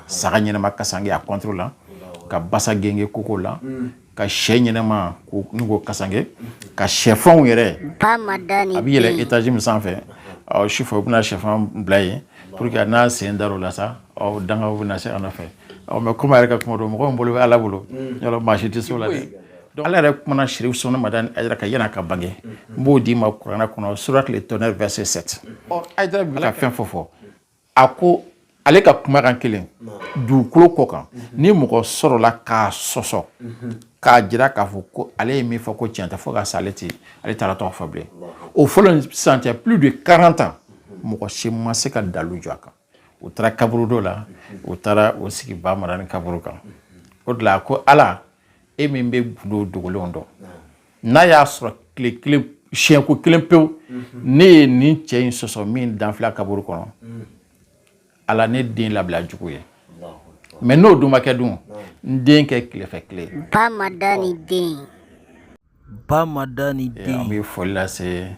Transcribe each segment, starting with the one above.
saga ɲɛnama kasange a kɔntoro la ka basa gengen kogo la ka sɛ ɲɛnama n'u ko kasange ka sɛfanw yɛrɛ a bɛ yɛlɛn etaji min sanfɛ sufɛ u bɛna sɛfan bila yen pour que n'a sen dar'o la sa aw dangaw bɛna se a nɔfɛ mɛ komi a yɛrɛ ka kuma don mɔgɔw bolo bɛ ala bolo yɔrɔ maa si tɛ se o la dɛ ala yɛrɛ kumana serifu usumani madani ayidara kan yanni a ka bange n b'o d'i ma kuranɛ kɔnɔ sourate le tonnerre verset sept ayidara bɛ ka fɛn fɔ fɔ a ko ale ka kumakan kelen dugukolo kɔ kan ni mɔgɔ sɔrɔla k'a sɔsɔ k'a jira k'a fɔ ko ale ye min fɔ ko tiɲɛ tɛ fo ka sa ale tɛ ala taala tɔgɔ fɔ bilen o fɔlen ni sisan cɛ plus de 40 ans mɔgɔ si ma se ka dalu jɔ a kan u taara kaburu dɔ la u taara u sigi ba madani kaburu kan o de la ko ala e min bɛ gundo dogolenw dɔn n'a y'a sɔrɔ tile kelen siɲɛko kelen pewu ne ye nin cɛ in sɔsɔ min dalen filɛ kaburu kɔnɔ ala ne den labila jugu ye mɛ n'o dun ma kɛ dun n den kɛ tilefɛ tile ba madani den ba madani eh, den an bɛ foli lase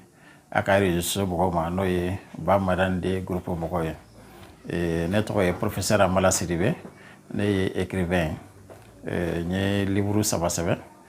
a ka réseaux sociaux mɔgɔw ma n'o ye ba madani den groupe mɔgɔw ye eh, ne tɔgɔ ye professeur amala sidibe ne ye écrivain ye eh, n ye livre saba sɛbɛn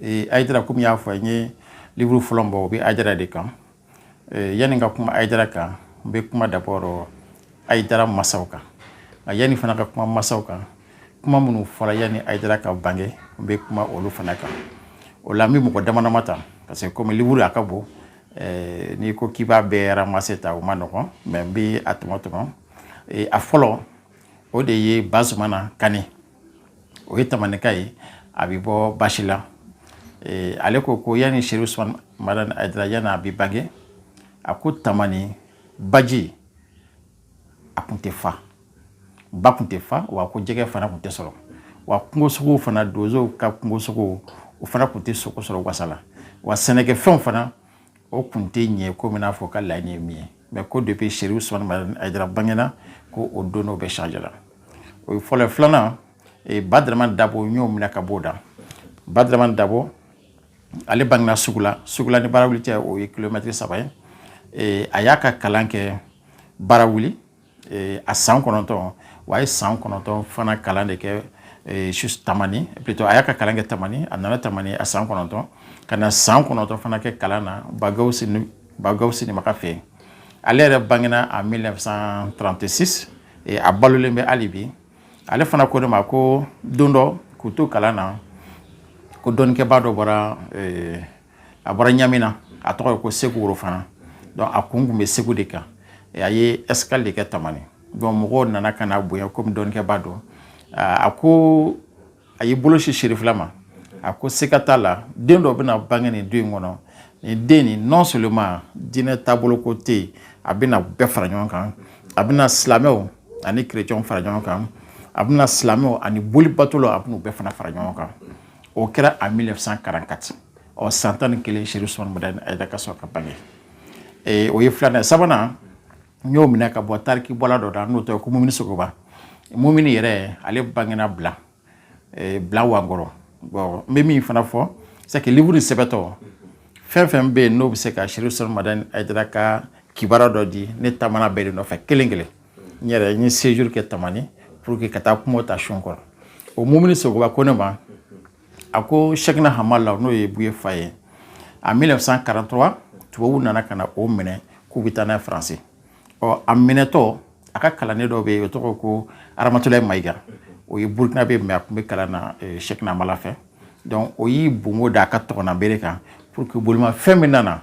ee ayidara komi n y'a fɔ n ye livuru fɔlɔ bɔ o bɛ ayidara de kan ee, yanni ka kuma ayidara kan n bɛ kuma dabɔrɔ ayidara masaw kan nka yanni fana ka kuma masaw kan kuma minnu fɔra yanni ayidara ka bange n bɛ kuma olu fana kan o la n bɛ mɔgɔ dama dama ta parce que komi livuru a ka bon ee, n'i ko k'i b'a bɛɛ ramase ta o ma nɔgɔn mɛ n bɛ a tɔmɔ tɔmɔ ee, a fɔlɔ o de ye bazumana kani o ye tamanika ye a bɛ bɔ basi la ale ko ko yanni serifu usumani madani ayidara yanni a bɛ bange a ko tamani baji a tun tɛ fa ba tun tɛ fa wa ko jɛgɛ fana tun tɛ sɔrɔ wa kungosogo fana donsow ka kungosogo o fana tun tɛ sogo sɔrɔ wasa la wa sɛnɛkɛfɛnw fana o kun tɛ ɲɛ komi n'a fɔ u ka laɲini ye min ye mɛ ko depuis serifu usumani ayidara bangena ko o don n'o bɛɛ change la o ye fɔlɔ filanan e, badaraman dabo n y'o minɛ ka b'o da badaraman dabo ale bangena sugula sugula ni barawuli cɛ o ye kilomɛtiri saba ye e, a y'a ka kalan kɛ barawuli Eh, a san kɔnɔntɔn wa a ye san kɔnɔntɔn fana kalan de kɛ eh, su tamani plutôt a y'a ka kalan kɛ tamani a nana tamani a san kɔnɔntɔn ka na san kɔnɔntɔn fana kɛ kalan na ba gawusu ba gawusu nimaga fɛ yen ale yɛrɛ bangena a 1936 eh, a balolen bɛ hali bi ale fana ko ne ma ko don dɔ k'u to kalan na ko dɔnnikɛba dɔ bɔra a bɔra ɲamina a tɔgɔ ye ko seku worofana donc a kun tun bɛ segu de kan a ye escale de kɛ tamani donc mɔgɔw nana ka na bonya komi dɔnnikɛba don a ko a y'i bolo sin sirifila ma a ko sika t'a la den dɔ bɛna bange nin du in kɔnɔ nin den nin non seulement diinɛ taabolo ko tɛ yen a bɛna bɛɛ fara ɲɔgɔn kan a bɛna silamɛw ani kerecɛnw fara ɲɔgɔn kan a bɛna silamɛw ani bolibatolaw a bɛna u bɛɛ fana fara ɲɔgɔn kan o kɛra en 1944 ɔ san tan ni kelen sirifu usumani madani hayidara ka sɔrɔ ka bange ee o ye filanan sabanan n y'o minɛ ka bɔ tariki bɔla dɔ da n'o tɔgɔ ko mumuni sogoba min yɛrɛ ale bangena bila bila wakɔrɔ bɔn n bɛ min fana fɔ sa liburu ni sɛbɛn tɔ fɛn fɛn bɛ yen n'o bɛ se ka sirifu usumani madani hayidara ka kibaru dɔ di ne taara bɛɛ de nɔfɛ kelen kelen n yɛrɛ n ye séjour kɛ tamani pour que ka taa kuma ta sun kɔrɔ o mumuni sogoba ko ne ma a ko chekina hamala n'o ye buye fa ye en 1943 tubabuw nana ka na o minɛ k'u bɛ taa n'a ye faransi ɔ a minɛtɔ a ka kalanden dɔ bɛ yen o tɔgɔ ko aramatulayi mayiga o ye burukinabɛ ye a tun bɛ kalan na chekina hamala fɛ donc o y'i bon ka da a ka tɔgɔmabere kan pour que bolimafɛn min nana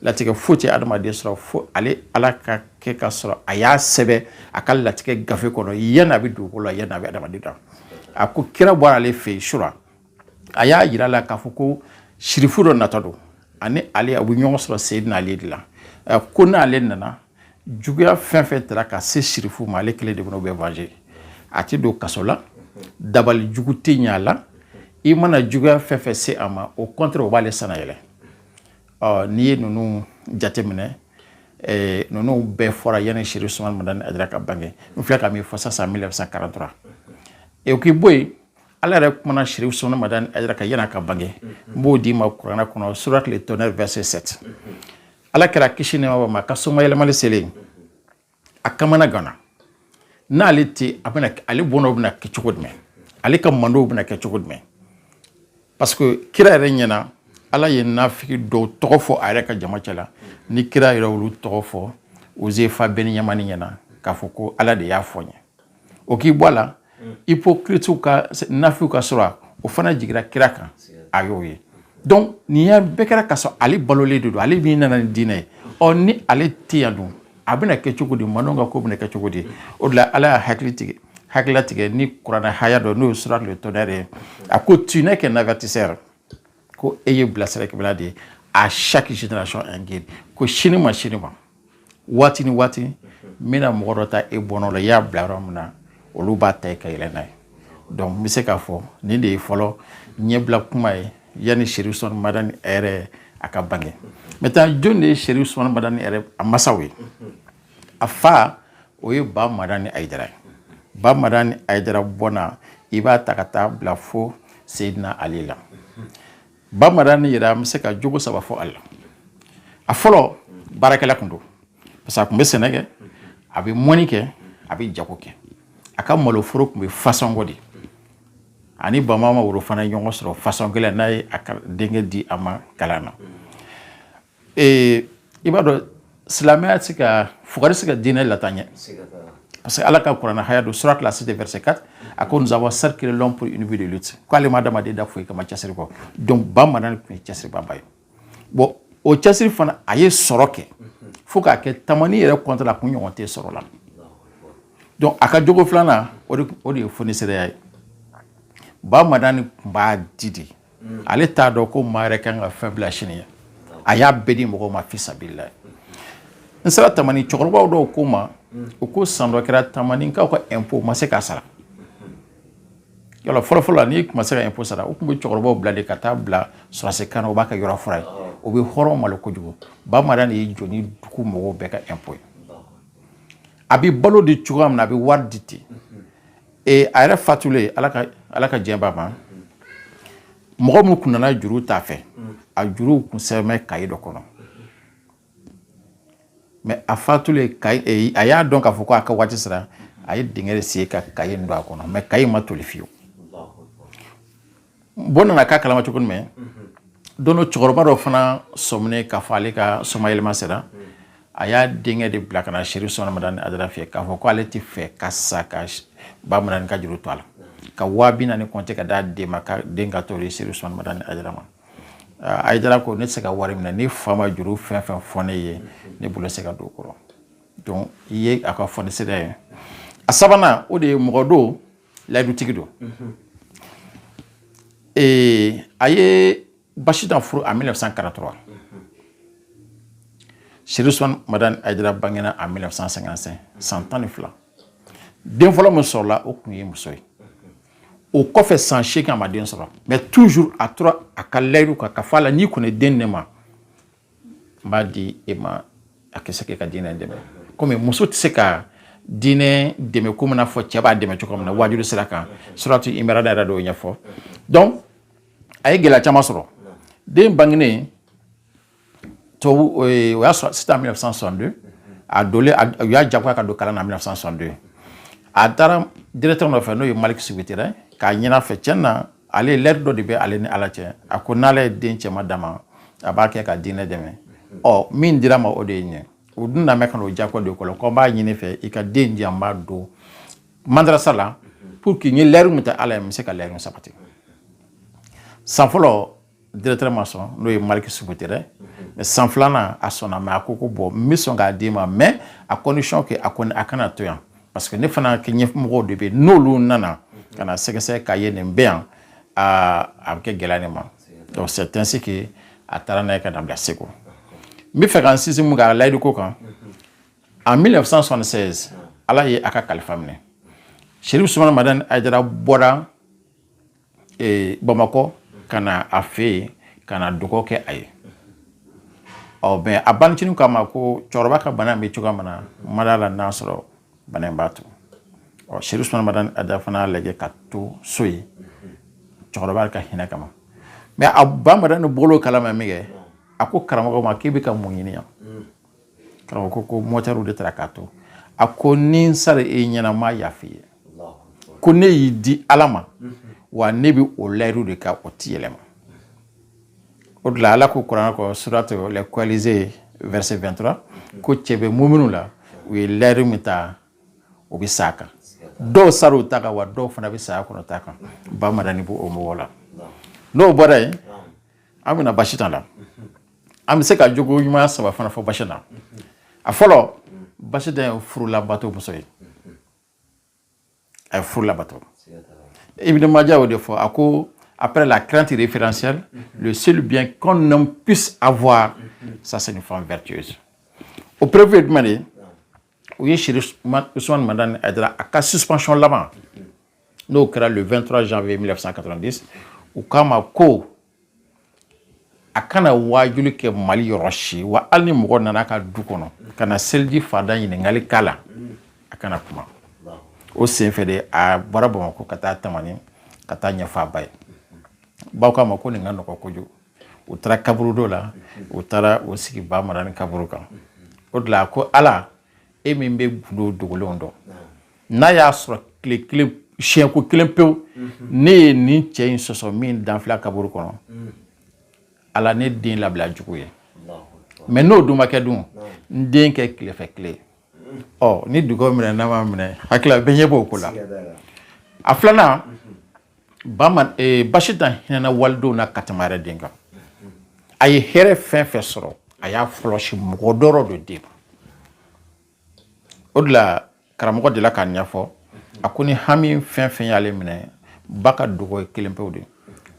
latigɛ foyi tɛ adamaden sɔrɔ fo ale ala ka kɛ ka sɔrɔ a y'a sɛbɛn a ka latigɛ gafe kɔnɔ yanni a bɛ dugukolo da yanni a bɛ adamaden da a ko kira bɔra ale fɛ yen sura a y'a yira la k'a fɔ ko sirifu dɔ nata don ani ale a bɛ ɲɔgɔn sɔrɔ seyi n'ale de la ko n'ale nana juguya fɛn fɛn taara ka se sirifu ma ale kelen de bɛna o bɛ venger a tɛ don kaso la dabali jugu tɛ ɲɛ a la i mana juguya fɛn fɛn se a ma au contraire o b'ale sannayɛlɛ ɔ n'i ye ninnu jateminɛ eh, ninnu bɛɛ fɔra yanni sirifu usumani madani hayidara ka bange n filɛ ka min fɔ sisan 1943 e k'i bɔ yen ala yɛrɛ kumana sirifu usumani madani hayidara kan yanni a ka bange n b'o d'i ma kuranɛ kɔnɔ sourate le tonnerre verset 7 ala kira kisi ni nɛɛma bɛ min kan somayɛlɛmali selen a kamanaganna n'ale tɛ a bɛna ale bɔnnaw bɛna kɛ cogo jumɛn ale ka mantɔnw bɛna kɛ cogo jumɛn parce que kira yɛrɛ ɲɛna ala ye naafigi dɔw tɔgɔ fɔ a yɛrɛ ka jama cɛ la ni kira yɛrɛ y'olu tɔgɔ fɔ ozefa bɛni yamani ɲɛna k'a fɔ ko ala de y'a fɔ n ye o k'i bɔ a la hypocrites ka naafigiw ka sura o fana jigira kira kan a y'o ye donc nin ya bɛɛ kɛra ka sɔrɔ ale balolen de don ale min nana ni diinɛ ye ɔ ni ale tɛ yan dun a bɛna kɛ cogo di mantɔn ka ko bɛna kɛ cogo di o de la ala y'a hakili tigɛ hakilila tigɛ ni kuranɛ haya dɔ n'o ye sura le tonnerre ye a ko tu n'es qu'un avertisseur ko e ye bilasiralikɛla de ye à chaque génération un guide ko si ni maa si ni maa waati ni waati n bɛna mɔgɔ dɔ ta e bɔnna la i y'a bila yɔrɔ min na olu b'a ta ka yɛlɛ n'a ye donc n bɛ se k'a fɔ nin de ye fɔlɔ ɲɛbila kuma ye yanni serifu usumani madani yɛrɛ a ka bange mɛ taa jɔn de ye serifu usumani madani yɛrɛ a masaw ye a fa o ye ba madani ayidara ye ba madani ayidara bɔnna i b'a ta ka taa bila fo seyidina ali la Ba madani yɛrɛ an bɛ se ka jogo saba fɔ ale la a fɔlɔ baarakɛla tun don parce que a tun bɛ sɛnɛ kɛ a bɛ mɔnni kɛ a bɛ jago kɛ a ka maloforo tun bɛ fansɔngɔ de a ni bama worofana ɲɔgɔn sɔrɔ fansɔngɔ yen a ye a denkɛ di a ma kalan na ee i b'a dɔn silamɛya tɛ se ka fugari se ka diinɛ lataa ɲɛ parce que ala ka kuranɛ haya don sourate la cité verset 4 a ko nous avons certes créé l'homme pour une vie de lutte k'ale ma adamaden da foyi kama cɛsiri kɔ donc ba madani tun ye cɛsiribaaba ye bon o cɛsiri fana a ye sɔrɔ kɛ fo k'a kɛ tamani yɛrɛ kɔntɛ la kun ɲɔgɔn tɛ sɔrɔ la donc a ka jogo filanan o de ye fonisireya ye ba madani tun b'a di de mm. ale t'a dɔn ko maa yɛrɛ kan ka fɛn bila sini ye a y'a bɛɛ di mɔgɔw ma fisabilila n sera tamani cɛkɔrɔbaw dɔw ko n ma mm. u ko san dɔ kɛra tamaninkaw ka impôt ma se k'a sara yala fɔlɔfɔlɔ la n'i tun ma se ka impôt sara u tun bɛ cɛkɔrɔbaw bila de ka taa bila fɔrɔse kan na u b'a kɛ yɔrɔ furan ye o bɛ hɔrɔn malo kojugu ba madani de y'i jɔ ni dugu mɔgɔw bɛɛ ka impôt ye a bɛ balo di cogoya min na a bɛ wari di ten ee a yɛrɛ fatulen ala ka ala ka diɲɛ b'a ma mɔgɔ minnu kun nana juru ta a fɛ a juruw kun sɛbɛnnen bɛ kaye dɔ kɔnɔ mɛ a fatulen kaye e, a y'a dɔn k'a fɔ ko a ka waati sera a ye dingɛ de sen ka kaye in don a kɔnɔ mɛ kaye ma toli fewu bon an nana k'a kalama cogo min don dɔ cɛkɔrɔba dɔ fana sɔminen k'a fɔ ale ka somayɛlɛma sera a y'a denkɛ de bila ka na serifu usumani madani ayidara fɛ k'a fɔ ko ale tɛ fɛ ka sa ka ba madani ka juru to a la ka waa bi naani kɔnte ka d'a den ma k'a den ka taa o di serifu usumani madani ayidara ma ayidara ko ne tɛ se ka wari minɛ ne fa ma juru fɛn fɛn fɔ ne ye ne bolo tɛ se ka don a kɔrɔ donc nin ye a ka fonisireya ye a sabanan o de ye mɔgɔ don layidutigi don a ye basitan furu en 1943 serifu usumani madani ayidara bangena en 1955 san tan ni fila den fɔlɔ min sɔrɔla o tun ye muso ye o kɔfɛ san seegin a ma den sɔrɔ mɛ toujours a tora a ka layidu kan k'a fɔ ala n'i kɔni den ne ma n b'a di e ma a ka se k'e ka diinɛ dɛmɛ komi muso tɛ se ka diinɛ dɛmɛ komi n'a fɔ cɛ b'a dɛmɛ cogo min na waajuli sira kan suratu imrana y'a yɔrɔ dɔw ɲɛfɔ donc a ye gɛlɛya caman sɔrɔ den bangenen tubabuw y'a sɔrɔ c'est en 1962 a donlen u y'a jagoya ka don kalan na 1962 a taara directeur nɔfɛ n'o ye Malik Subeterɛ k'a ɲini a fɛ tiɲɛ na ale layidu dɔ de bɛ ale ni ala cɛ a ko n'ala ye den cɛma d'a ma a b'a kɛ ka diinɛ dɛmɛ ɔ min dira ma o de ye ɲɛ o dun na ka n'o jako de kɔlɔ ko n b'a ɲini i fɛ i ka den di an b'a don mandarasa la pour que n ye layidu min ta ala ye n bɛ se ka layidu sabati san fɔlɔ directeur ma sɔn n'o ye Malik Subeterɛ mais san filanan a sɔnna mais a ko ko bon n bɛ sɔn k'a d'i ma mais à condition que a kɔni a kana to yan parce que ne fana ka ɲɛmɔgɔw de bɛ yen n'olu nana ka na sɛgɛsɛgɛ k'a ye nin bɛ yan aa a bɛ kɛ gɛlɛya ne ma donc c'est ainsi que a taara n'a ye ka na bila Segu n b'a fɛ ka n sinsin mun kan a layidu ko kan en 1976 ala ye a ka kalifa minɛ Serifu Usman Madani Ayidara bɔra ee bamakɔ ka na a fɛ yen ka na dugawu kɛ a ye ɔ bon a bancinin k'a ma ko cɛkɔrɔba ka bana bɛ cogoya min na n ma da a la n'a sɔrɔ bana in b'a to ɔ serifu usman madani ayidara fana lajɛ ka to so yen cɛkɔrɔba ka hinɛ kama mais a ba madani bɔr'o kalama minkɛ a ko karamɔgɔ ma k'i bɛ ka mun ɲini yan karamɔgɔ ko ko mɔtɛriw de taara k'a to a ko ni n sara e ɲɛna n m'a yafa i ye ko ne y'i di ala ma wa ne bɛ o layiru de kan o ti yɛlɛma o de la ala ko kurana kɔnɔ sourate les coalisés verset 23 ko cɛ bɛ muminuw la u ye layiru min ta u bɛ sa a kan dɔw sara u ta kan wa dɔw fana bɛ saya kɔnɔ u ta kan ba madani b'o mɔgɔw la n'o bɔra yen an bɛna ba sitan la an bɛ se ka jogo ɲuman saba fana fɔ ba sitan na a fɔlɔ ba sitan ye furulabato muso ye a ye furulabato ibn majah y'o de fɔ a ko après la crainte référentielle le seul bien qu'un homme puisse avoir ça c'est une femme vertueuse o preuve ye jumɛn de ye u ye serifu usman madani ayidara ka suspension laban n'o kɛra le 23 janvier 1990 u k'a ma ko a kana waajuli kɛ mali yɔrɔ si wa hali ni mɔgɔ nana a ka du kɔnɔ ka na seliji farida ɲininkali k'a la a kana kuma o senfɛ de a bɔra bamakɔ ka taa tamani ka taa a ɲɛfɔ a ba ye ba k'a ma ko nin ka nɔgɔ kojugu u taara kaburudo la u taara u sigi Ba Madani kaburu kan o de la a ko ala e min bɛ gundo dogolenw dɔn n'a y'a sɔrɔ tile kelen siɲɛko kelen pewu ne ye nin cɛ in sɔsɔ min dalen filɛ kaburu kɔnɔ ala ne den labila juguw ye mɛ n'o dun ma kɛ dun n den kɛ tilefɛ tile ɔ ni dugaw minɛna a ma minɛ hakili bɛɛ ɲɛ b'o ko la a filanan bama eh, Basitan hinɛna walidenw na ka tɛmɛ yɛrɛ den kan a ye hɛrɛ fɛn fɛn sɔrɔ a y'a fɔlɔsi mɔgɔ dɔwɛrɛ de den o de la karamɔgɔ delila k'a ɲɛfɔ a ko ni hami fɛn fɛn y'ale minɛ ba ka dugaw ye kelen pewu de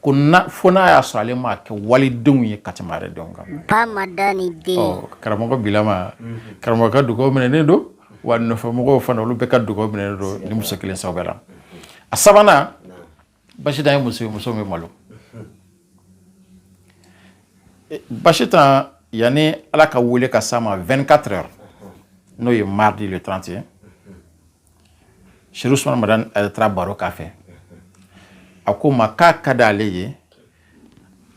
ko na fo n'a y'a sɔrɔ ale m'a kɛ walidenw ye ka tɛmɛ yɛrɛ denw kan Ba Madani den ɔ karamɔgɔ bilama karamɔgɔ ka dugaw minɛnen don wa nɔfɛmɔgɔw fana olu bɛɛ ka dugaw minɛnen don ni muso kelen sababu la a sabanan Basitan ye muso ye muso bɛ malo Basitan yanni ala ka wele ka s'a ma 24 heures n'o ye mardi le 30 ye Serifu Usumani Madani taara baro k'a fɛ a ko ma k'a ka d'ale ye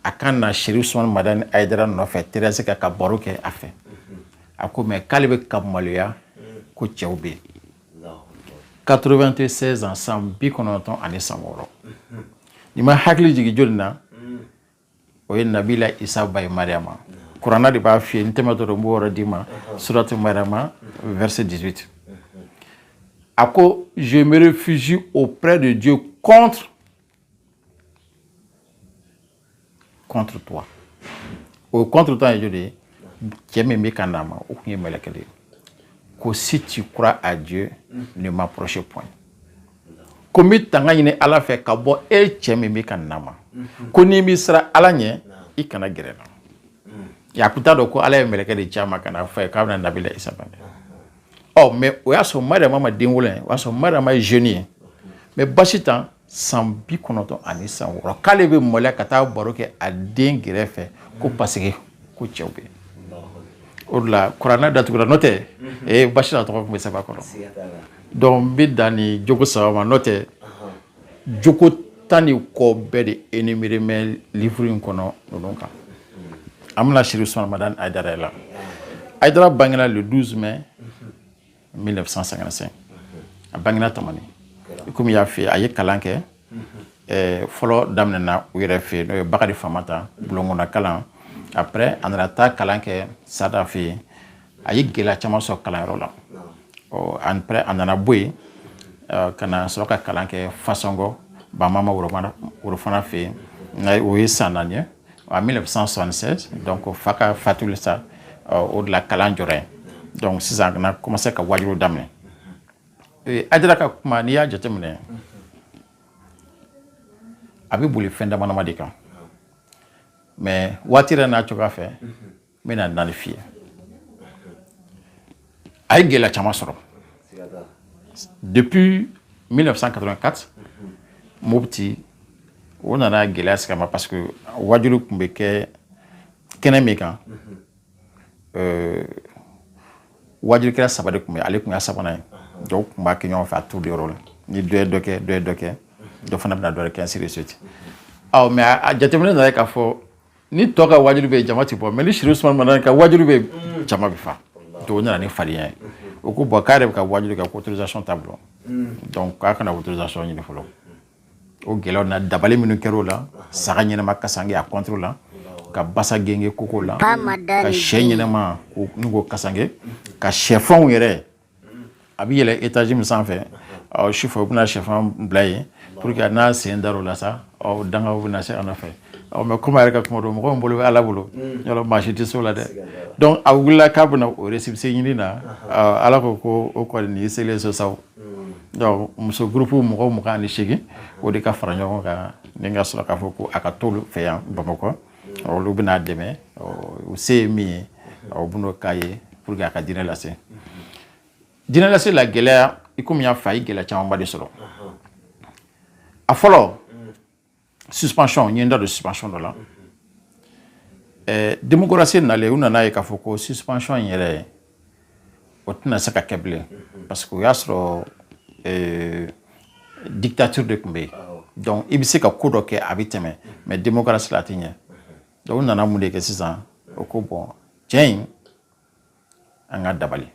a ka na Serifu Usumani Madani Ayidara nɔfɛ terrasse kan ka baro kɛ a fɛ a ko mɛ k'ale bɛ ka maloya ko cɛw bɛ yen 96 ans san bi kɔnɔntɔn ani san wɔɔrɔ ni ma hakili jigin jɔni na o ye nabila isa ba ye Mariyama kuranɛ de b'a fɔ n tɛmɛ dɔrɔn n b'o yɔrɔ d'i ma surati Mariyama verset 18 a ko je me réfugie auprès de Dieu contre contre toi o contre toi ye jɔni ye cɛ min bɛ ka n'a ma o tun ye mɛlɛkɛ de ye ko si tu crois à Dieu ne m'approche point ko n bɛ tanga ɲini ala fɛ ka bɔ e cɛ min bɛ ka na n ma ko n'i bɛ siran ala ɲɛ i kana gɛrɛ n na a tun t'a dɔn ko ala ye mɛlɛkɛ de ci a ma ka n'a fɔ a ye k'a bɛna nabila isa bange ɔ mɛ o y'a sɔrɔ mariama ma den wolo ye o y'a sɔrɔ mariama ye jeune ye mɛ Basitan san bi kɔnɔntɔn ani san wɔɔrɔ k'ale bɛ maloya ka taa baro kɛ a den kɛrɛ fɛ ko paseke ko cɛw bɛ o de la kuranɛ datugura n'o tɛ ee Basitan tɔgɔ tun bɛ sɛbɛn a kɔnɔ donc n bɛ dan nin jogo saba ma n'o tɛ jogo tan ni kɔ bɛɛ de énuméré bɛ livre in kɔnɔ ninnu kan an bɛ na Serifu Usumani Madani Ayidara la Ayidara bangera le 12 mai 1955 a bangena tamani komi n y'a fɔ a ye kalan kɛ eh, fɔlɔ daminɛna u yɛrɛ fɛ n'o ye bakari Famanta bulonkɔnɔna kalan après a nana taa kalan kɛ sada fɛ yen a ye gɛlɛya caman sɔrɔ kalanyɔrɔ la après a nana bɔ yen eh, ka na sɔrɔ ka kalan kɛ fasɔngɔ bamama worofana fɛ yen o ye san naani ye en 1976 donc fa ka fatuli sa o de la kalan jɔra yen donc sisan ka na commencer ka waajuli daminɛ Ayidara ka kuma n'i y'a jateminɛ a bɛ boli fɛn damadama de kan mais waati yɛrɛ n'a cogoya fɛ n bɛna naani f'i ye a ye gɛlɛya caman sɔrɔ depuis 1984 mopti u nana gɛlɛya sigi a ma parce que waajuli tun bɛ kɛ kɛnɛ min kan euh, waajulikɛla saba de tun bɛ ale tun y'a sabanan ye dɔw tun b'a kɛ ɲɔgɔn fɛ a t'u de yɔrɔ la ni dɔ ye dɔ kɛ dɔ ye dɔ kɛ dɔ fana bɛna dɔ de kɛ ainsi de suite ɔ mais a jateminɛ nana ye k'a fɔ ni tɔw ka waajuli bɛ jama ti bɔ mais ni Chérif Ousmane Madani ka waajuli bɛ mm. jama bɛ fa tɔw nana ni farinya ye u ko bon k'a yɛrɛ bɛ ka waajuli kɛ autorisation t'a bolo mm. donc k'a ka na autorisation ɲini fɔlɔ o gɛlɛyaw na dabali minnu kɛra o la saga ɲɛnama kasange a contre la ka basa gengen koko la ka shɛ ɲɛnama n'u ko kasange ka shɛfanw yɛrɛ a bɛ yɛlɛ etaji min sanfɛ ɔ sufɛ u bɛna shɛfan bila yen pour que n'a sen dar'o la sa ɔ dangaw bɛna se a nɔfɛ ɔ mais komi a yɛrɛ ka kuma don mɔgɔ min bolo bɛ ala bolo yɔrɔ maa si tɛ s'o la dɛ donc a wulila k'a bɛna o récépissé ɲini na ala ko ko o kɔni nin y'i selen so saw donc muso groupe mɔgɔ mugan ni seegin o de ka fara ɲɔgɔn kan ni ka sɔrɔ k'a fɔ ko a ka t'olu fɛ yan bamakɔ olu bɛn'a dɛmɛ u se ye min ye u bɛn'o k'a ye pour que a ka diinɛ lase diinɛ lase la gɛlɛya i komi n y'a fɔ a ye gɛlɛya camanba de sɔrɔ a fɔlɔ suspension n ye n da don suspension dɔ la démocratie nalen u nana ye k'a fɔ ko suspension in yɛrɛ o tɛna se ka kɛ bilen parce que o y'a sɔrɔ euh, dictature de tun bɛ yen donc i bɛ se ka ko dɔ kɛ a bɛ tɛmɛ mais démocratie la a tɛ ɲɛ donc u nana mun de kɛ sisan u ko bon cɛ in an k'a dabali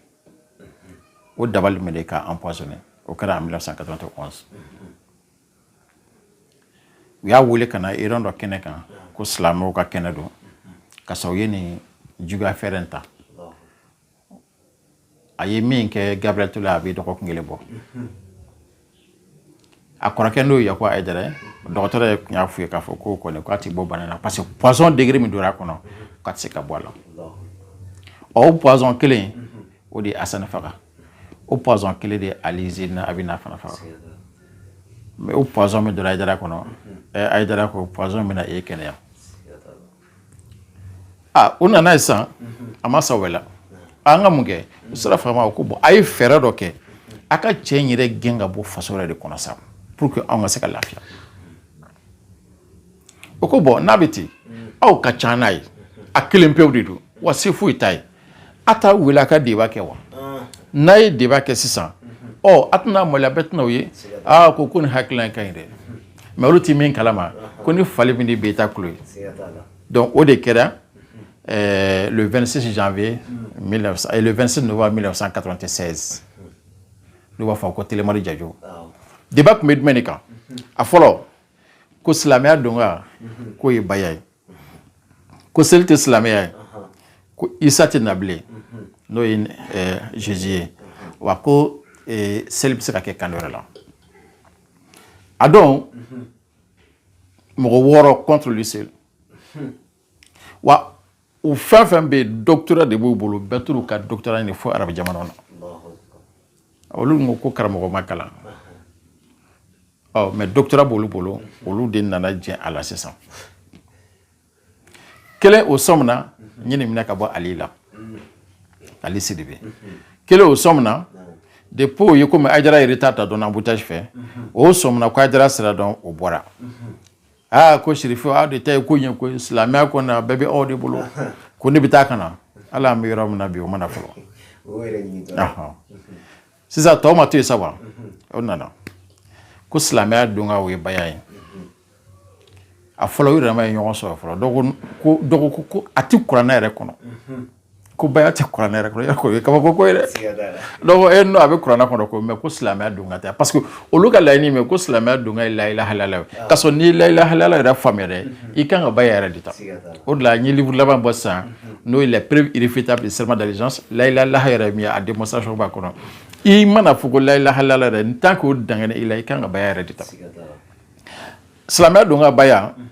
o dabali min de k'a empoisonner o kɛra en 1991 u y'a weele ka na erreur dɔ kɛnɛ kan ko silamɛw ka kɛnɛ don ka sɔrɔ u ye nin juguya fɛɛrɛ in ta a ye min kɛ Gabriel Ture a bɛ dɔgɔkun kelen bɔ a kɔrɔkɛ n'o ye Yakuba Ayidara ye dɔgɔtɔrɔ yɛrɛ tun y'a f'o ye k'a fɔ k'o kɔni k'a tɛ bɔ bana na parce que poison degré min donna a kɔnɔ k'a tɛ se ka bɔ a la ɔ o poison kelen o de ye Asani faga. o poison kelen de Ali Zayinu Abidina fana faga mais o poison min donna ayidara kɔnɔ ɛ ayidara ko poison bɛna e kɛnɛya a u nan'a ye sa a ma sa voilà an ka mun kɛ u sera faama u ko bon a ye fɛɛrɛ dɔ kɛ a ka cɛ in yɛrɛ gɛn ka bɔ faso yɛrɛ de kɔnɔ sa pour que anw ka se ka lafiya o ko bon n'a bɛ ten aw ka ca n'a ye a kelen pewu de don wa se foyi t'a ye a taa wele a ka débat kɛ wa n'a ye de kɛ sisan ɔ a tɛna mali a bɛ tɛna'aw ye aaa ko ko nin hakilila ka ɲi dɛ mais olu tɛ min kalama ko ni fali min bɛ t'a tulo ye donc o de kɛra le six janvier vingt-six novembre mille neuf cent quatre-vingt-seize n'u b'a fɔ ko télé mali radio débat tun bɛ jumɛn de kan a fɔlɔ ko silamɛya donkan k'o ye baya ye ko seli tɛ silamɛya ye ko isa tɛ na bilen n'o ye zezi ye wa ko seli bɛ se ka kɛ kan wɛrɛ la a don mɔgɔ wɔɔrɔ contre lui seul wa u fɛn o fɛn bɛ yen doctorat de b'u bolo bɛɛ taar'u ka doctorat ɲini fo arabu jamana na olu ko ko karamɔgɔ ma kalan ɔ mais doctorat b'olu bolo olu de nana jɛ a la sisan kelen o sɔmina n ye nin minɛ ka bɔ ale la ale siri bɛ kelen o sɔmina de po ye komi ayidara yɛrɛ ta ta dɔn abutasi fɛ o sɔmina ko ayidara sira dɔn o bɔra aa ko serifu aw de ta ye ko ɲɛ ko silamɛya ko na bɛɛ bɛ aw de bolo ko ne bɛ taa ka na hali an bɛ yɔrɔ min na bi o ma na fɔlɔ sisan tɔw ma to yen sa wa o nana ko silamɛya donkan o ye baya ye a fɔlɔ u yɛrɛ ma ɲɔgɔn sɔrɔ fɔlɔ dɔgɔkun ko a tɛ kuranɛ yɛrɛ kɔnɔ ko baya tɛ kuranɛ yɛrɛ kɔnɔ yɛrɛ k'o ye kabako ko ye dɛ donc e n'o a bɛ kuranɛ kɔnɔ ko mais ko silamɛya donkan tɛ parce que olu ka laɲini min ko silamɛya donkan ye layilaha ilala ye ah. ka sɔrɔ n'i ye layilaha ilala yɛrɛ faamuya dɛ mhm. i kan ka baya yɛrɛ de ta o de la n ye livre laban bɔ sisan mhm. n'o ye la preuve irréfutable du serment d'allégeance layila laha yɛrɛ min ye a démonstration b'a kɔnɔ i man'a fɔ ko layilaha ilala yɛrɛ en tant que o dangana i la i kan ka baya yɛrɛ de ta silamɛya donkan baya mhm.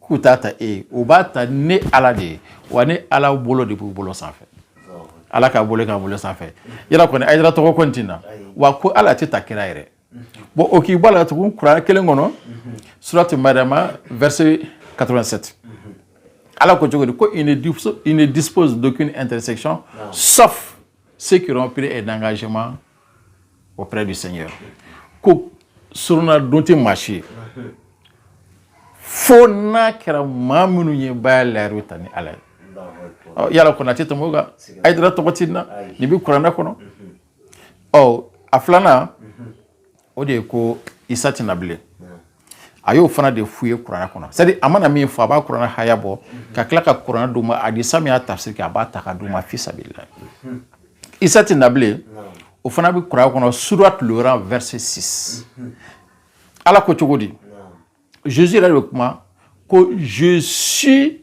k'u t'a ta e ye u b'a ta ne ala de ye wa ne ala bolo de b'u bolo sanfɛ ala k'a bolo k'a bolo sanfɛ yala kɔni ayidara tɔgɔ kɔni tɛ nin na wa ko ala tɛ ta kira yɛrɛ bon o k'i bɔ a la tugun kuranɛ kelen kɔnɔ surati mariama verset 87 ala ko cogo di ko ils ne disposent d'aucune intercession sauf ceux qui auront pris un engagement auprès du seigneur ko soronadon tɛ maa si ye fo n'a kɛra maa minnu ye baya layidu ta ne ala ye yala kɔni tɛ tɛmɛ kan ayidara tɔgɔ tɛ nin na nin bɛ kuranɛ kɔnɔ ɔ a filanan o de ye ko isa tɛ na bilen a y'o fana de f'u ye kuranɛ kɔnɔ c'est-à-dire a mana min fɔ a b'a kuranɛ haya bɔ ka tila ka kuranɛ d'u ma hadisa min y'a tafsiri kɛ a b'a ta k'a d'u ma fisa bi la isa tɛ na bilen o fana bɛ kuranɛ kɔnɔ sourate Le Rang verset 6 ala ko cogo di jesus yɛrɛ de kuma ko je suis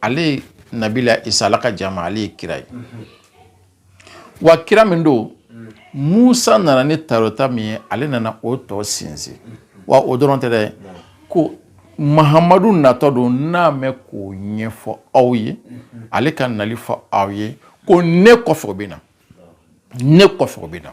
ale nabila isa ala ka jama ale ye kira ye wa kira min don musa nana ni tawurata min ye ale nana o tɔ sinsin wa o dɔrɔn tɛ dɛ ko mahamadu natɔ don n'a mɛn k'o ɲɛfɔ aw ye ale ka nali fɔ aw ye ko ne kɔfɛ o bɛ na ne kɔfɛ o bɛ na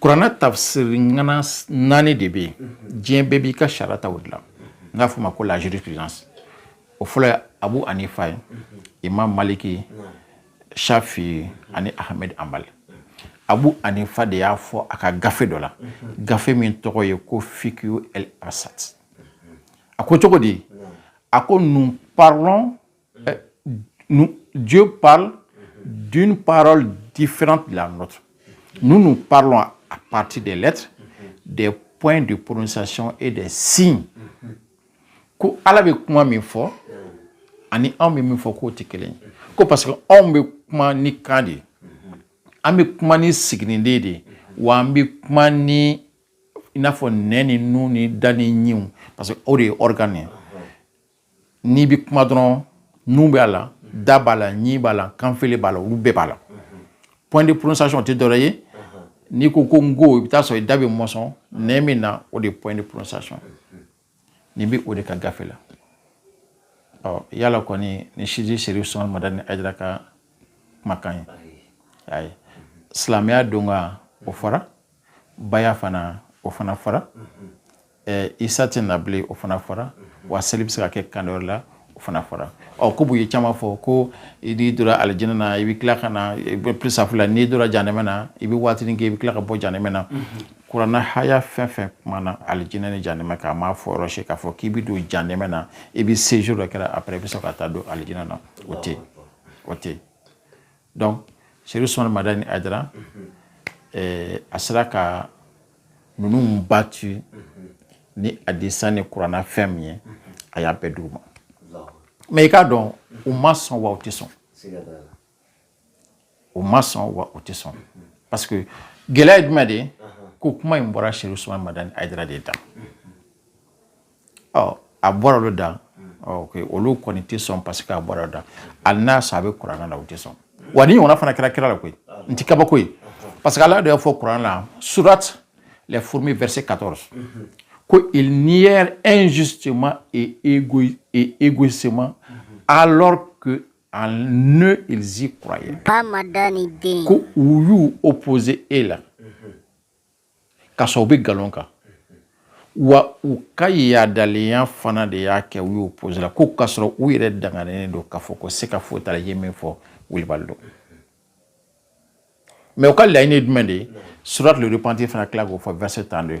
Kuranɛ tafsiri ŋana 4 de bɛ yen unhun diɲɛ bɛɛ b'i ka sariya ta o de la n y'a f'u ma ko la jurisprudence o fɔlɔ ye Abu Hanifa ye Imam Maliki ye Chafi'i ani Ahmed Hanbal Abu Hanifa de y'a fɔ a ka gafe dɔ la gafe min tɔgɔ ye ko Fiqhu el-Absat a ko cogodi a ko nous parlons Euh, nous, Dieu parle d'une parole différente de la nôtre. Nous, nous parlons à partir des lettres, des points de prononciation et des signes. Ko ala bɛ kuma min fɔ ani anw bɛ min fɔ k'o tɛ kelen ye ko parce que anw bɛ kuma ni kan de ye an bɛ kuma ni siginiden de ye wa an bɛ kuma ni i n'a fɔ nɛn ni nun ni da ni ɲinw parce que o de ye organe ye n'i bɛ kuma dɔrɔn nun b'a la da b'a la ɲin b'a la kanfile b'a la olu bɛɛ b'a la point de prononciation tɛ dɔwɛrɛ ye n'i ko ko n ko i bɛ t'a sɔrɔ i da bɛ mɔsɔn nɛn min na o de ye point de prononciation nin bɛ o de ka gafe la ɔ yala kɔni ni sidi Chérif Ousmane Madani Haïdara ka kumakan ye ayi silamɛya don ka o fɔra baya fana o fana fara eh, isa tɛ na bilen o fana fara wa seli bɛ se ka kɛ kan wɛrɛ la o fana fara ɔ ko ye caman fɔ ko i n'i donna alijinɛ na i bɛ tila ka na i bɛ pisafu la n'i donna janɛmɛ na i bɛ waatinin kɛ i bɛ tila ka bɔ janɛmɛ na kuranɛ haya fɛn fɛn kumana alijinɛ ni janɛmɛ kan a m'a fɔ yɔrɔ si k'a fɔ k'i bɛ don janɛmɛ na i bɛ sejour dɔ kɛ après i bɛ sɔrɔ ka taa don alijinɛ na o tɛ o tɛ donc Chérif Ousmane Madani Haïdara a sera ka ninnu battre ni hadisa ni kuranɛ fɛn min ye a y'a bɛɛ d'u ma mais i k'a dɔn u ma sɔn wa u tɛ sɔn u ma sɔn wa u tɛ sɔn parce que gɛlɛya ye jumɛn de ye ko kuma in bɔra Chérif Ousmane Madani Haïdara de da a bɔra olu da olu kɔni tɛ sɔn parce que a bɔra da hali n'a sɔrɔ a bɛ kuranɛ la u tɛ sɔn wa nin ɲɔgɔnna fana kɛra kira la koyi nin tɛ kabako ye parce que ala de y'a fɔ kuranɛ la surat les fourmis verset 14 ko ils nièrent injustement et égoïstement alors que en eux ils y croyaient ko u y'u opposer e la ka sɔrɔ u bɛ nkalon kan wa u ka yaadalenya fana de y'a kɛ u y'u opposer e la ko k'a sɔrɔ u yɛrɛ danganen don k'a fɔ ko sika foyi t'a la a ye min fɔ wilibali don mais u ka laɲini ye jumɛn de ye surat le repentir fana tila k'o fɔ verset 32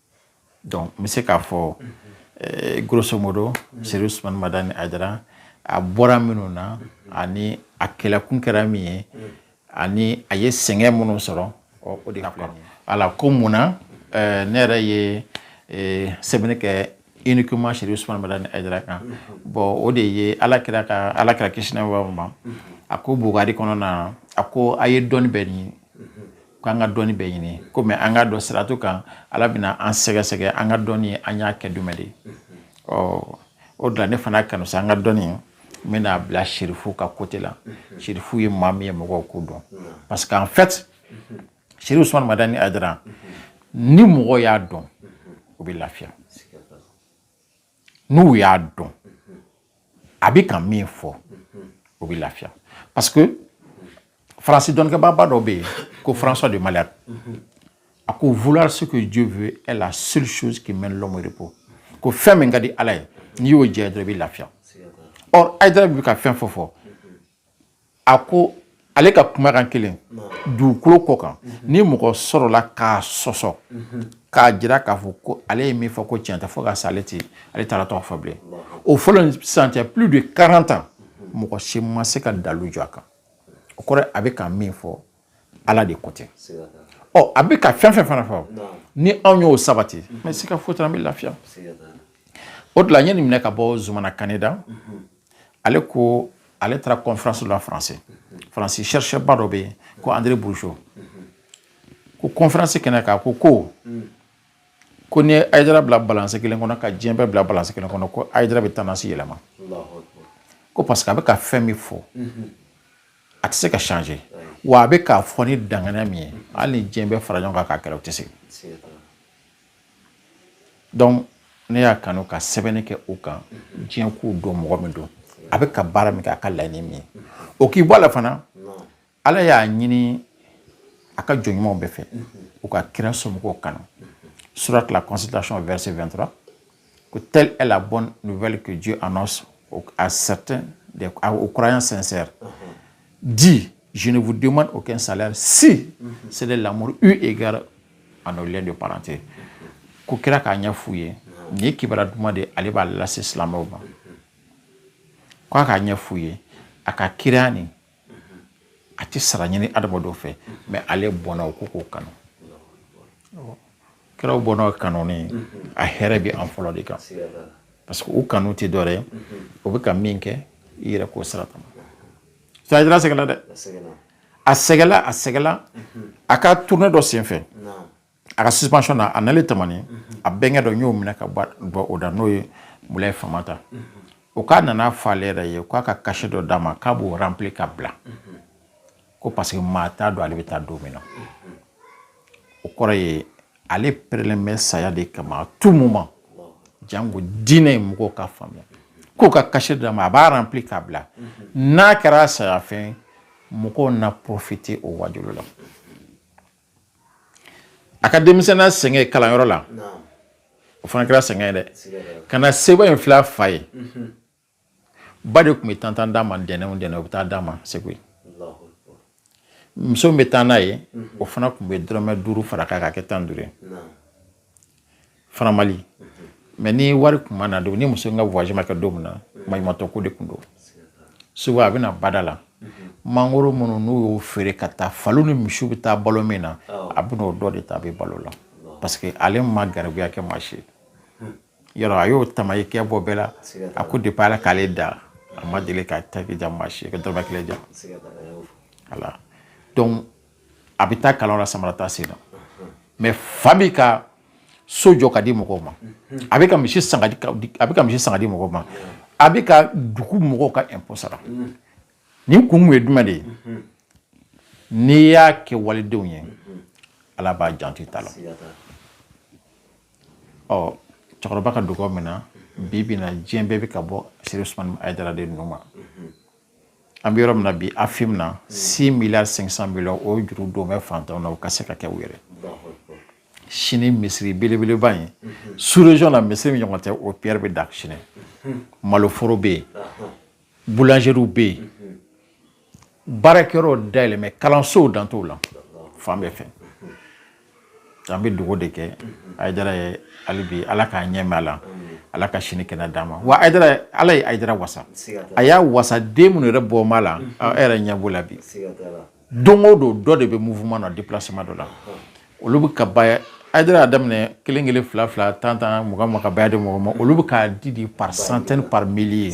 donc n bɛ se k'a fɔ eh, grosso modo seri usumani madani ayidara a bɔra minnu na ani a kɛlɛkun kɛra min ye ani a ye sɛgɛn minnu sɔrɔ ɔ, o de filɛ nin ye. ala ko mun na eh, ne yɛrɛ ye eh, sɛbɛnni kɛ uniquement seri usumani madani ayidara kan bon o de ye ala kira ka ala kira kisi n'a b'a ma a ko bukari kɔnɔna na a ko a ye dɔnni bɛɛ ɲini k'an ka dɔnni bɛɛ ɲini komi an k'a dɔn siratu kan ala bɛna an sɛgɛsɛgɛ an ka dɔnni an y'a kɛ jumɛn de ɔ o de la ne fana kanu sa n ka dɔnni n bɛn'a bila sirifu ka côté la sirifu ye maa min ye mɔgɔw k'o dɔn parce que en fait seri usumani madani ayidara ni mɔgɔ y'a dɔn o bɛ lafiya n'o y'a dɔn a bɛ ka min fɔ o bɛ lafiya parce que faransi dɔnnikɛbaaba dɔ bɛ yen ko françois de malherbe a ko vouloir ce que dieu veut est la seule chose qui mène l'homme au repos ko fɛn min ka di ala ye n'i y'o kɛ dɔrɔn i bɛ lafiya or ayidara bɛ ka fɛn fɛn fɔ a ko ale ka kumakan kelen dugukolo kɔ kan ni mɔgɔ sɔrɔla k'a sɔsɔ k'a jira k'a fɔ ko ale ye min fɔ ko tiɲɛ tɛ fo ka sa ale tɛ ala taala tɔgɔ fɔ bilen o fɔli ni sisan cɛ plus de 40 ans mɔgɔ si ma se ka dalu jɔ a kan o kɔrɔ a bɛ ka min fɔ ale de ko tɛ ɔ a bɛ ka fɛn fɛn fana fɔ ni anw y'o sabati n bɛ se k'a fɔ i ye an bɛ lafiya o de la n ye nin minɛ ka bɔ zumana kane da ale ko ale taara kɔnfiransi la faransi faransi chercheur ba dɔ bɛ yen ko andré bourgeot ko kɔnfiransi kɛnɛ kan ko ko ko ni ayidara bilala balansi kelen kɔnɔ ka diɲɛ bɛɛ bila balansi kelen kɔnɔ ko ayidara bɛ tendance yɛlɛma ko parce que a bɛ ka fɛn min fɔ a tɛ se ka changer wa a bɛ k'a fɔ ni danganiya min ye hali ni diɲɛ bɛɛ fara ɲɔgɔn kan k'a kɛlɛ o tɛ se donc ne y'a kanu ka sɛbɛnni kɛ o kan diɲɛ k'o dɔn mɔgɔ min don a bɛ ka baara min kɛ a ka laɲini min ye o k'i bɔ a la fana ala y'a ɲini a ka jɔn ɲumanw bɛɛ fɛ u ka kira somɔgɔw kanu surat la consultation verset 23 Que telle est la bonne nouvelle que Dieu annonce à certains, aux croyants sincères. Uh-huh. Dis, je ne vous demande aucun salaire si uh-huh. c'est de l'amour eu égard à nos liens de parenté. Ko kira k'a ɲɛ f'u ye nin ye kibaruya duman de ye ale b'a lase silamɛw ma ko a k'a ɲɛ f'u ye a ka kira nin a tɛ sara ɲini adamadenw fɛ mɛ ale bɔnna o ko k'o kanu kiraw bɔnna kanuni a hɛrɛ bɛ an fɔlɔ de kan parce que u kanu tɛ dɔ ye o bɛ ka min kɛ i yɛrɛ k'o sira kama sajira sɛgɛnna dɛ a sɛgɛla a sɛgɛla a ka tournée dɔ senfɛ a ka suspension na a nalen tamani a bɛnkɛ dɔ n y'o mɛn ka bɔ o da n'o ye mulaye famanta o k'a nana fɔ ale yɛrɛ ye k'a ka kasɛti dɔ d'a ma k'a b'o rempli ka bila ko parce que maa t'a dɔn ale bɛ taa don min na o kɔrɔ ye ale perelen bɛ saya de kama tout moment jango diinɛ ye mɔgɔw ka faamuya k'o ka kasɛti d'a ma a b'a rempli ka bila n'a kɛra sayafɛn mɔgɔw na profite o wajulu la A ka denmisɛnya sɛgɛn kalanyɔrɔ la o fana kɛra sɛgɛn dɛ ka na se in fila fa ye ba de tun bɛ tan tan d'a ma ntɛnɛn o ntɛnɛn u bɛ taa d'a ma segu muso bɛ taa n'a ye o fana tun bɛ dɔrɔmɛ duuru far'a kan ka kɛ tan duuru faran mali mɛ ni wari tun ma na don ni muso in ka voyage ma kɛ don min na maɲumatɔ ko de tun don segu a bɛ na bada la mangoro minnu n'u y'o feere ka taa faliw ni misiw bɛ taa balo min na a bɛna o dɔ de ta a bɛ balo la parce que ale ma garibuya kɛ maa si yɔrɔ a y'o tama i kɛ bɔ bɛɛ la a ko depuis ala k'ale da a ma deli ka taki ja maa si ka dɔrɔmɛ kelen ja ala donc a bɛ taa kalan la samara t'a sen na mɛ fa bɛ ka so jɔ ka di mɔgɔw ma a bɛ ka misi san ka a bɛ ka misi san ka di mɔgɔw ma a bɛ ka dugu mɔgɔw ka ɛnpɔ sara nin kun ye jumɛn de ye n'i y'a kɛ walidenw ye ala b'a janto i ta la ɔ cɛkɔrɔba ka dugawu minɛna bi bi na diɲɛ bɛɛ bɛ ka bɔ serifu usumani ayidara de nun ma an bɛ yɔrɔ min na bi afim na six milliards cinq cent millions o juru don bɛ fantanw na o ka se ka kɛ u yɛrɛ sini misiri belebeleba in sous région na misiri min ɲɔgɔn tɛ o pierre bɛ da sini maloforo bɛ yen boulangeries bɛ yen baarakɛyɔrɔw dayɛlɛlen bɛ kalansow dan t'o la fan bɛɛ fɛ an bɛ dugawu de kɛ ayidara ye hali bi ala k'a ɲɛ mɛn a la ala ka si ni kɛnɛya d'a ma wa ayidara ala ye ayidara wasa a y'a wasa den minnu yɛrɛ bɔr'a la yɛrɛ ɲɛ b'o la bi don o don dɔ de bɛ mufuma na dilasima dɔ la olu bɛ ka ba ayidara y'a daminɛ kelen kelen fila fila tan tan mɔgɔ ma ka ba de mɔgɔ ma olu bɛ ka di di par cent par mille ye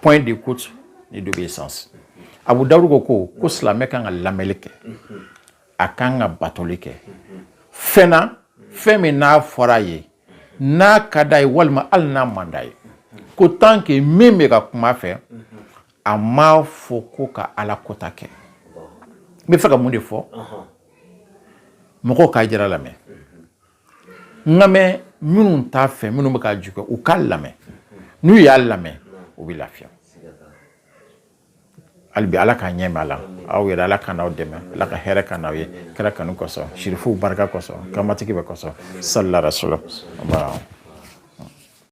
point d'écoute ni d'obéissance abu dawudu ko ko ko silamɛ kan ka lamɛli kɛ a kan ka batoli kɛ fɛn na fɛn min n'a fɔra a ye n'a ka d'a ye walima hali n'a man d'a ye ko tant que min bɛ ka kuma a fɛ a m'a fɔ ko ka ala kota kɛ n bɛ fɛ ka mun de fɔ mɔgɔw ka ayidara lamɛn n ka mɛn minnu t'a fɛ minnu bɛ k'a juger u k'a lamɛn n'u y'a lamɛn u bɛ lafiya hali bi ala k'a ɲɛ mɛn a la aw yɛrɛ ala ka n'aw dɛmɛ ala ka hɛrɛ k'an n'aw ye kira kanu kosɔn sirifuw barika kosɔn kamatigi bɛɛ kosɔn sali ala rasulu